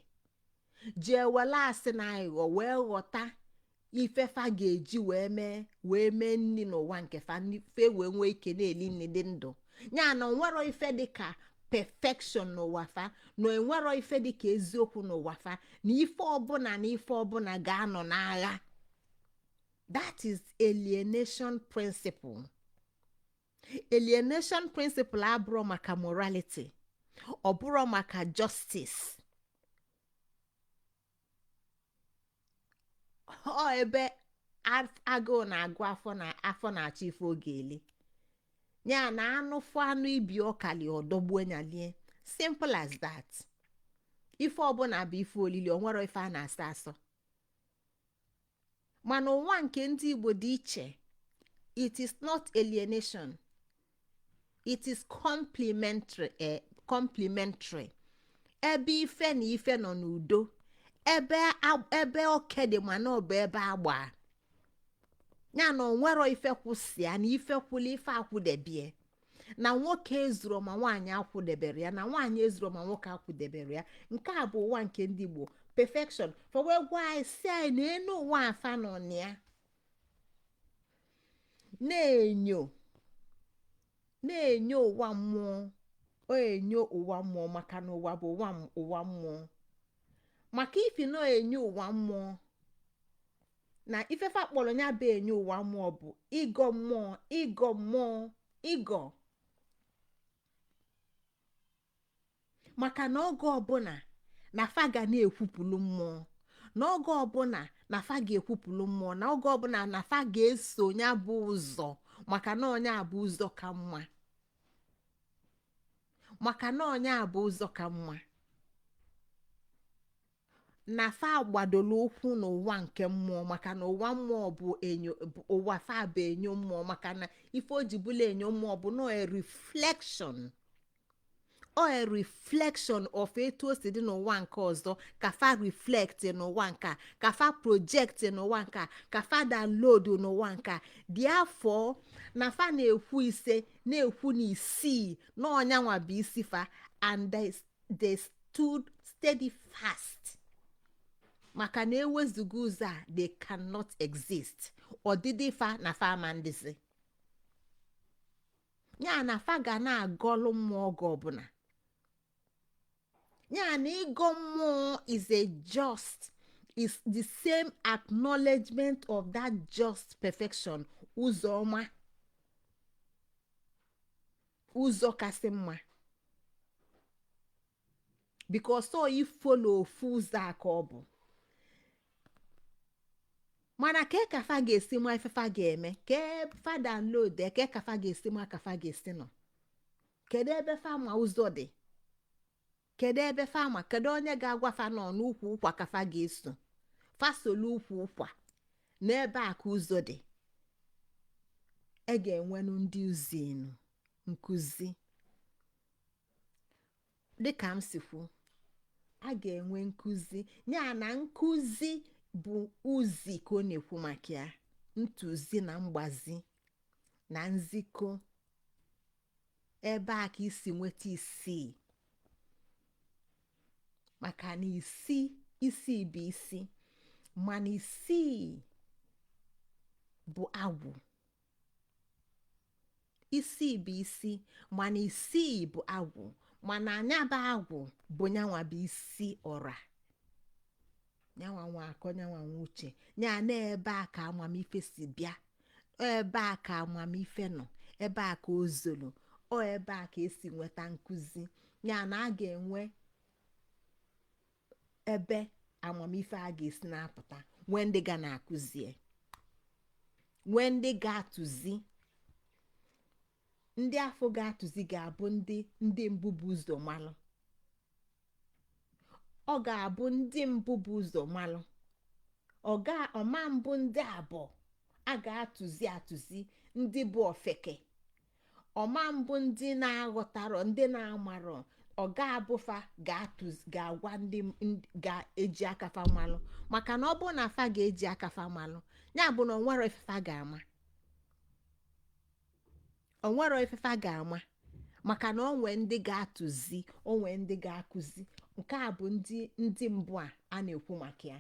jee wele asị na aghụghọ wee ghọta ife fa ga-eji wee mee wee mee nri n'ụwa nke fa fa ewee nwee ike na-eli nri dị ndụ ya na onwero ife dị ka perfection n'ụwa fa na enwero ife dị ka eziokwu n'ụwa fa na ife ọbụla na ife ọbụla ga-anọ n'agha that is alienation principle alienation principle abụrọ maka morality ọ bụrọ maka justice ọ ebe agụụ na-agụ afọ na afọ na-achọ ife ọ ga-eli ya na anụ fụ anụ ibe ọ kalị ọ dọgbuo nya lie simple as that ife ọbụla bụ ife olili onwero ife a na-asọ asọ mana ụwa nke ndị Igbo dị iche it is not alienation it is complementary eh, complementary ebe ife na ife nọ n'udo ebe ebe oke dị mana ọ bụ ebe agba ya na onwero ife kwụ sọ ya na ife kwụlụ ife akwụdebie na nwoke ezuro ma nwaanyị akwụdebero ya na nwaanyị ezuro ma nwoke akwụdebero ya nke a bụ ụwa nke ndị igbo perfection fa wee gwa anyị sị anyị na enu ụwa a fa nọ na ya na-enyo na-enyo ụwa mmụọ ọ enyo ụwa mmụọ maka na ụwa bụ ụwa m- ụwa mmụọ maka ifi na enyo ụwa mmụọ na ife fa kpọlọ ya bụ enyo ụwa mmụọ bụ ịgọ mmụọ ịgọ mmụọ ịgọ maka na oge ọbụna na fa ga na-ekwupụlụ mmụọ na oge ọbụna na fa ga-ekwupụlụ mmụọ na oge ọbụna na fa ga-eso ya bụ ụzọ maka na ọ nya bụ ụzọ ka mma maka na ọ nya bụ ụzọ ka mma na fa gbadolo ụkwụ n'ụwa nke mmụọ maka na ụwa mmụọ bụ enyo bụ- ụwa fa bụ enyo mmụọ maka na ife o ji bụlụ enyo mmụọ bụ na ọ a reflection ọ a reflection of etu o si dị n'ụwa nke ọzọ ka fa reflect n'ụwa nke a ka fa project n'ụwa nke a ka fa download n'ụwa nke a therefore na fa na-ekwu ise na-ekwu na isii na ọ nyanwa bụ isi fa and they they stood steady fast maka na e wezuga ụzọ a they cannot exist ọdịdị fa na fa ama na-adịzi ya na fa ga na-agọlụ mmụọ oge ọbụna ya na ịgọ mmụọ is a just is the same acknowledgement of that just perfection ụzọ ọma ụzọ kasị mma because ọ ịfollow ofu ụzọ a ka ọ bụ mana kee ka fa ga-esi ma ife fa ga-eme ka fa download kee ka fa ga-esi ma ka fa ga-esi nọ kedu ebe fa ma ụzọ dị kedu ebe fa ma kedu onye ga-agwa fa na ọ n'ukwu ụkwa ka fa ga-eso fa solu ukwu ụkwa na ebe a ka ụzọ dị a ga-enwenụ ndị uzi nụ nkụzi dịka m si kwu a ga-enwe nkụzi ya na nkụzi bụ uzi ka ọ na-ekwu maka ya ntụzi na mgbazi na nzikọ ebe a ka e si nweta isii maka na isi isi bụ isi mana isii bụ agwụ isi bụ isi mana isii bụ agwụ mana nya bụ agwụ bụ nyanwa bụ isi ọra nyanwa nwe akọ nyanwa nwe uche ya na ebe a ka amamife si bịa ebe a ka amamife nọ ebe a ka o zolo ebe a ka e si nweta nkụzi ya na a ga-enwe ebe amamife a ga-esi na-apụta nwee ndị ga na-akụzie nwee ndị ga-atụzi ndị afụ ga-atụzi ga-abụ ndị ndị mbụ bu ụzọ malụ ọ ga-abụ ndị mbụ bu ụzọ malụ ọ ga ọ ma-abụ ndị abụọ a ga-atụzi atụzi ndị bụ ofeke ọ ma-abụ ndị na-aghọtarọ ndị na-amarọ ọ ga-abụ fa ga-agwa ndị ga-eji aka fa malụ maka na ọ bụrụ na fa ga-eji aka fa malụ ya bụ na o nwerọ ife fa ga-ama o nwerọ ife fa ga-ama maka na o nwe ndị ga-atụzi o nwe ndị ga-akụzi nke a bụ ndị ndị mbụ a a na-ekwu maka ya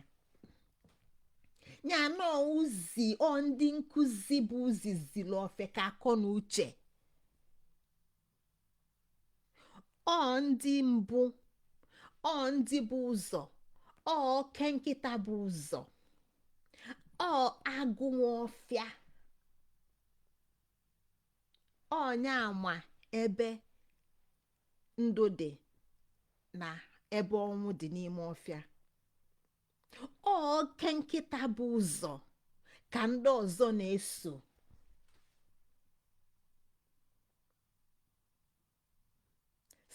ya na uzi ọ ndị nkụzi bụ uzi ziri ofeke akọ na uche ọ ndị mbụ ọ ndị bu ụzọ ọ oke nkịta bu ụzọ ọ agụ nwe ọfịa ọ nya ma ebe ndụ dị na ebe ọnwụ dị n'ime ọfịa oke nkịta bu ụzọ ka ndị ọzọ na-eso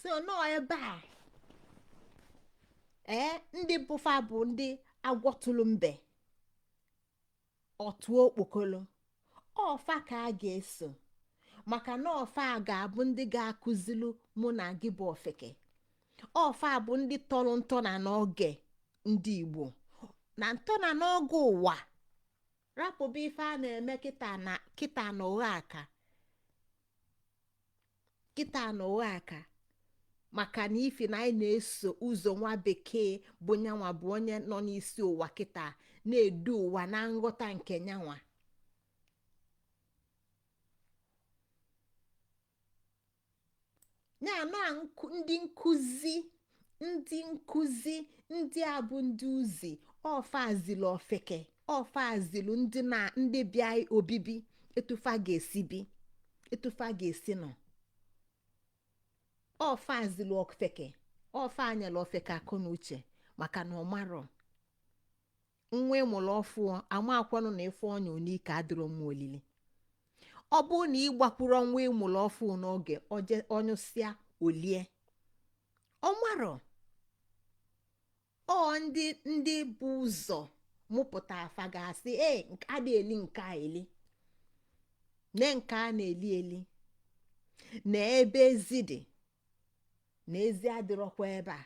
so nọọ ebe a ee ndị bụ fa bụ ndị agwọ tụlụ mbe ọ tụ okpokolo ọ fa ka a ga-eso maka na ọ fa ga-abụ ndị ga-akụzilu mụ na gị bụ ofeke ọ fa bụ ndị tọlụ ntọ ana n'oge ndị igbo na ntọ ana n'oge ụwa rapụba ife a na-eme kịta na ụgha aka kịta na ụgha aka maka na ifi na anyị na-eso ụzọ nwa bekee bụ nyanwa bụ onye nọ n'isi ụwa kịta na-edu ụwa na nghọta nke nyanwa ya na ndị nkụzi ndị nkụzi ndị a bụ ndị uzi ọ fa zili ofeke ọ fa zilu ndị na ndị bịa obibi etu fa ga-esi bi etu fa ga-esi nọ ọ fa zilu ofeke ọ fa nyelu ofeke akọ na uche maka na ọ marọ nwa ị mụlụ ọfụụ amakwanụ na ife ọ nyụ n'ike adịrọ mma olili ọ bụrụ na ị gbakwuru nwa ị mụlụ ọfụụ n'oge ọ nyụsịa o lie ọ marọ ọ ndị ndị bu ụzọ mụpụta fa ga-asị ee a na-eli nke a eli na nke a na-eli eli na ebe ezi dị na ezi adịrọkwa ebe a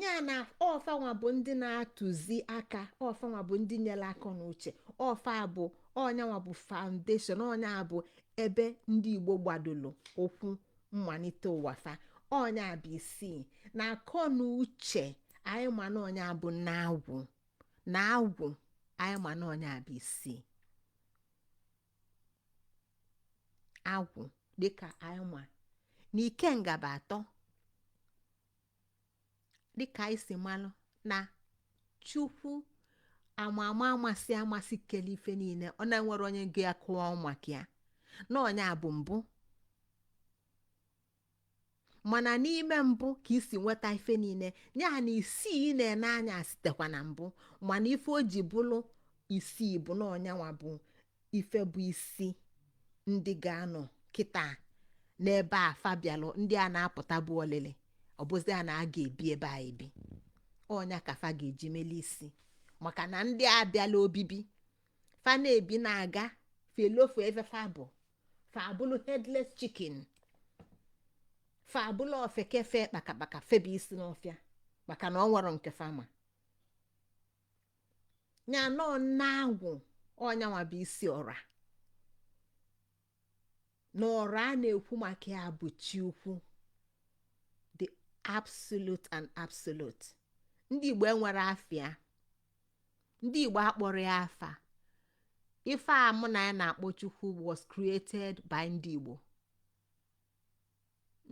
ya na ọ fanwa bụ ndị na-atụzi aka ọ fanwa bụ ndị nyere aka na uche ọ fa bụ ọ nyanwa bụ foundation ọ nya bụ ebe ndị igbo gbadolo ụkwụ mmalite ụwa fa ọ nya bụ isi na akọ na uche anyị ma na ọ nya bụ nna agwụ anyị ma na ọ nya bụ isi agwụ dịka anyị ma na ikenga bụ atọ dịka anyị si malụ na chukwu ama ama amasị amasị kele ife niile ọ na enwerọ onye ga-akọwa maka ya na ọ nya bụ mbụ mana n'ime mbụ ka e si nweta ife niile ya na isii ị na-ene anya sitekwa na mbụ mana ife o ji bụlụ isii bụ na ọ nyanwa bụ ife bụ isi ndị ga-anọ kịta n'ebe a fa bịalụ ndị a na-apụta bụ olili ọ bụzia na a ga-ebi ebe a ebi ọ nya ka fa ga-eji mele isi maka na ndị a bịala obibi fa na-ebi na-aga fa elofu ebe fa bụ fa abụlụ headless chicken fa abụlụ ofeke fe kpakakpaka febe isi n'ọfịa maka na ọ nwerọ nke fa ma ya na ọ nna agwụ ọ nyanwa bụ isi ọra na ọra a na-ekwu maka ya bụ chi ukwu the absolute and absolute ndị igbo enwerọ afa ya ndị igbo akpọrọ ya afa ife a mụ na gị na-akpọ chukwu was created by ndị igbo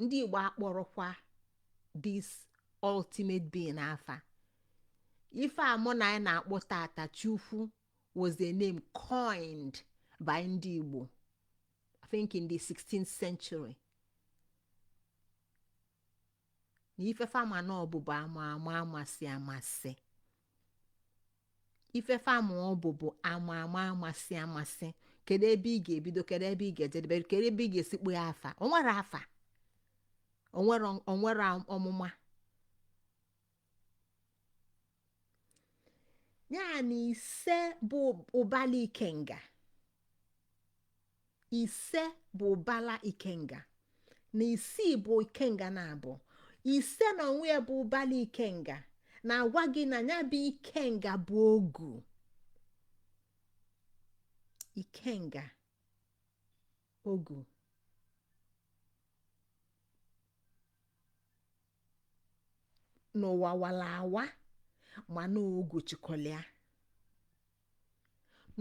ndị igbo akpọrọkwa this ultimate being afa ife a mụ na gị na-akpọ tata chukwu was a name coined by ndị igbo i think in the 16th century na ife fa ma na ọ bụ bụ ama ama amasị amasị ife fa ma ọ bụ bụ ama ama amasị amasị kedu ebe ị ga-ebido kedu ebe ị ga-ejedebe kedu ebe ị ga-esi kpọọ ya afa o nwerọ afa o nwerọ o nwerọ ọmụma ya na ise bụ ụbala ikenga ise bụ ụbala ikenga na isii bụ ikenga naabọ ise na onwe ya bụ ụbala ikenga na-agwa gị na ya bụ ikenga bụ ogu ikenga ogu n'ụwa wala awa mana ogu chịkọlịa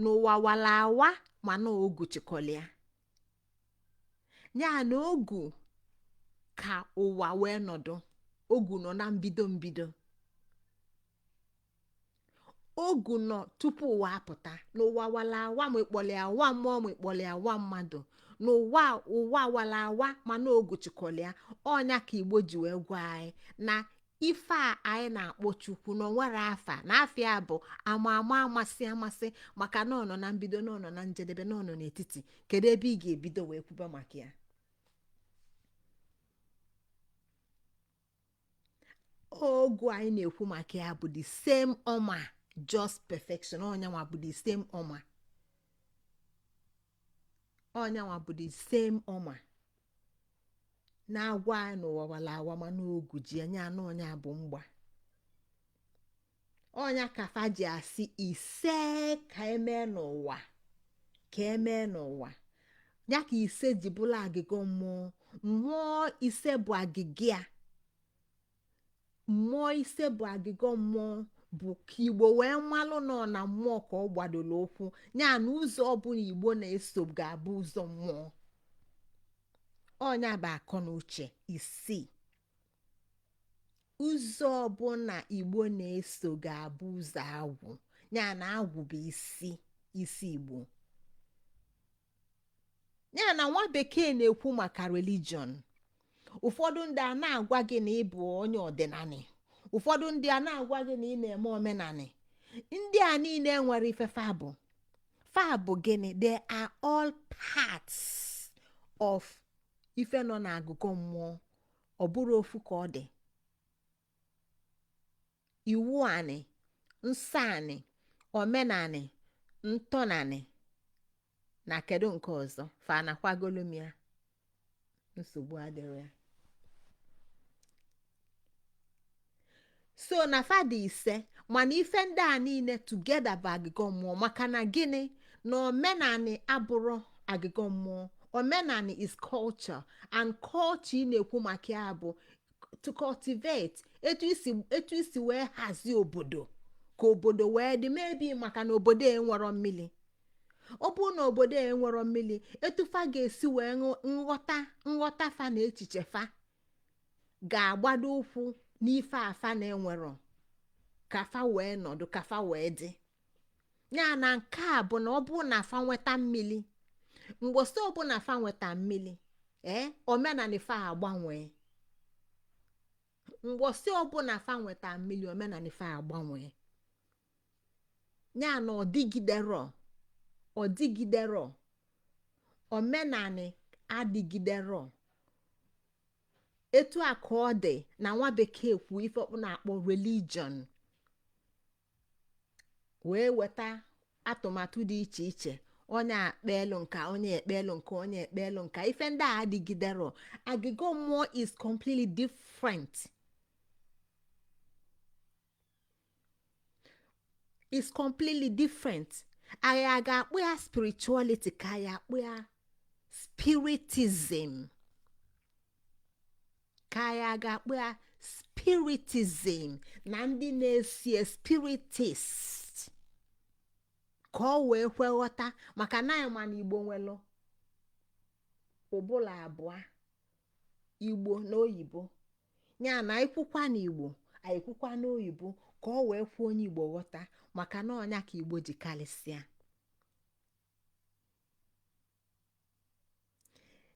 n'ụwa wala awa mana ogu chịkọlịa ya na ogu ka ụwa wee nọdụ ogu nọ na mbido mbido ogu nọ tupu ụwa apụta n'ụwa wala awa ma ị kpọlịa ụwa mmụọ ma ị kpọlịa ụwa mmadụ n'ụwa ụwa wala awa mana ogu chịkọlịa ọnya ka igbo ji wee gwa anyị na ife a anyị na-akpọ chukwu na o nwere afa na afa ya bụ ama ama amasị amasị maka na ọ nọ na mbido na ọ nọ na njedebe na ọ nọ n'etiti kedu ebe ị ga-ebido wee kwuba maka ya ogu anyị na-ekwu maka ya bụ the same ọma just perfection ọnyanwa bụ the same ọma ọnyanwa bụ the same ọma na-agwa anyị n'ụwa wala awa mana ogu ji ya ọnụ ọnya bụ mgba ọnya ka fa ji asị ise ka e mee n'ụwa ka e mee n'ụwa ya ka ise ji bụlụ agịga mmụọ mmụọ ise bụ agịga ya mmụọ ise bụ agịga mmụọ bụ ka igbo wee malụ na ọ na mmụọ ka ọ gbadoro ụkwụ ya na ụzọ ọbụla igbo na-eso ga-abụ ụzọ mmụọ ọnya bụ akọ na uche isii ụzọ ọbụla igbo na-eso ga-abụ ụzọ agwụ ya na agwụ bụ isi isi igbo ya na nwa bekee na-ekwu maka religion ụfọdụ ndị a na-agwa gị na ị bụ onye ọdịnanị ụfọdụ ndị a na-agwa gị na ị na-eme omenanị ndị a niile nwere ife fa bụ fa bụ gịnị they are all parts of ife nọ na agịgọ mmụọ ọ bụrọ ofu ka ọ dị iwu anị nsọ anị omenanị ntọnanị na kedu nke ọzọ fa anakwagolu m ya nsogbu adịrọ ya so na fa dị ise mana ife ndị a niile together bụ agịgọ mmụọ maka na gịnị na omenanị abụrọ agịgọ mmụọ omenanị is culture and culture ị na-ekwu maka ya bụ to cultivate etu e si etu e si wee hazie obodo ka obodo wee dị mma ebi maka na obodo enwero mmili ọ bụrụ na obodo enwero mmili etu fa ga-esi wee ṅụ- nghọta nghọta fa na echiche fa ga-agbado ụkwụ n'ife fa na-enwerọ ka fa wee nọdụ ka fa wee dị ya na nke a bụ na ọ bụrụ na fa nweta mmili mbọsị ọbụna fa nweta mmili ee omenanị fa agbanwee mbọsị ọbụna fa nweta mmili omenanị fa agbanwee ya na ọ dịgiderọ ọ dịgiderọ omenanị adịgiderọ etu a ka ọ dị na nwa bekee kwu ife ọ na-akpọ religion wee weta atụmatụ dị iche iche onye ekpelu nke a onye ekpelu nke a onye ekpelu nke a ife ndị a adịgiderọ agịgọ mmụọ is completely different is completely different anyị a ga-akpọ ya spirituality ka anyị akpọ ya spiritism ka anyị a ga-akpọ ya spiritism na ndị na-asị spiritist ka o wee kwe nghọta maka na anyị ma na igbo nwelu ụbụla abụọ igbo na oyibo ya na anyị kwukwa na igbo anyị kwukwa na oyibo ka o wee kwe onye igbo nghọta maka na ọ nya ka igbo ji kalịsịa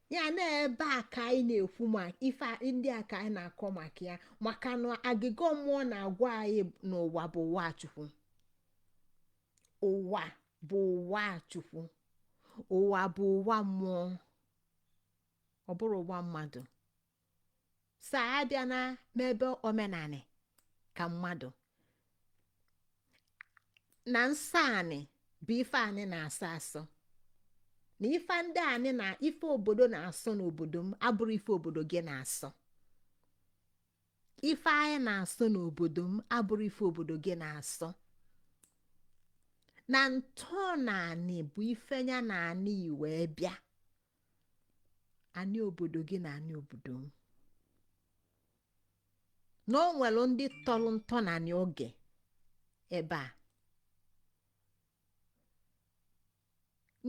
ya na ebe a ka anyị na-ekwu maka ife ndị a ka anyị na-akọ maka ya maka na agịgọ mmụọ na-agwa anyị na ụwa bụ ụwa chukwu ụwa bụ ụwa chukwu ụwa bụ ụwa mmụọ ọ bụrọ ụwa mmadụ so a bịa na n'ebe omenanị ka mmadụ na nsọ anị bụ ife anị na-asọ asọ na ife ndị anị na ife obodo na-asọ n'obodo m abụrọ ife obodo gị na-asọ ife anyị na-asọ n'obodo m abụrọ ife obodo gị na-asọ na ntọnanị bụ ife ya na anị wee bịa anị obodo gị na anị obodo m na o nwelu ndị tọlụ ntọnanị oge ebe a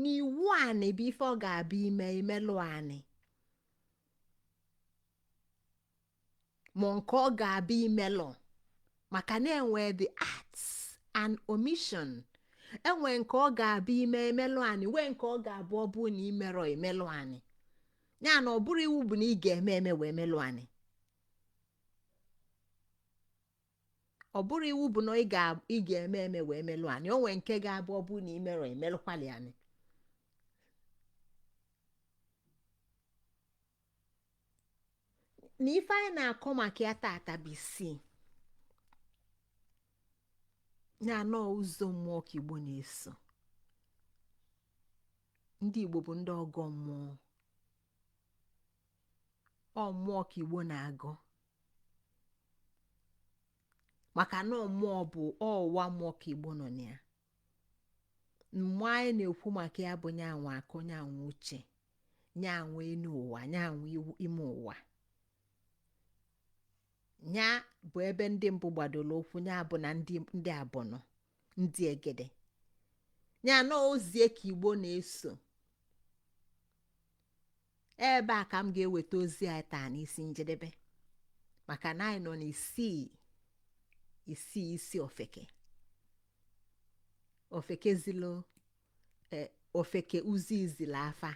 na iwu anị bụ ife ọ ga-abụ i mee i melụ anị ma nke ọ ga-abụ i merọ maka na enwe the acts and omission enwe nke ọ ga-abụ i mee emelụ anị nwee nke ọ ga-abụ ọ bụrụ na i merọ emelụ anị ya na ọ bụrọ iwu bụ na ị ga-eme eme wee melụ anị ọ bụrọ iwu bụ na ị ga-eme eme wee melụ anị o nwee nke ga-abụ ọ bụrụ na i merọ emelụkwali anị na ife anyị na-akọ maka ya tata bụ ịsị na na ọ ụzọ mmụọ ka igbo na-eso ndị igbo bụ ndị ọgọ mmụọ ọ mmụọ ka igbo na-agọ maka na mmụọ bụ ọwa mmụọ ka igbo nọ na ya mmụọ anyị na-ekwu maka ya bụ nya nwe akọ nya nwe uche nya nwe enu ụwa nya nwe ime ụwa ya bụ ebe ndị mbụ gbadoro ụkwụ ya bụ na ndị abụnụ ndị egede ya na ozie ka igbo na-eso ebe a ka m ga-eweta ozi anyị taa n'isi njedebe maka na anyị nọ n'isii isii isi ofeke ofeke zilo e, ofeke uzi izila afa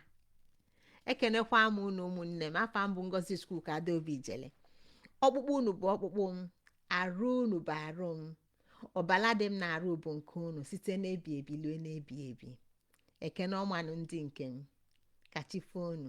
ekenekwa m unu ụmụnne m afa m bụ ngozi chukwuka adaobi ijele ọkpụkpụ unu bụ ọkpụkpụ m arụ unu bụ arụ m ọbala dị m n'arụ bụ nke unu site n'ebi ebi lue n'ebi ebi ekene ọma nụ ndị nke m ka chi foo unu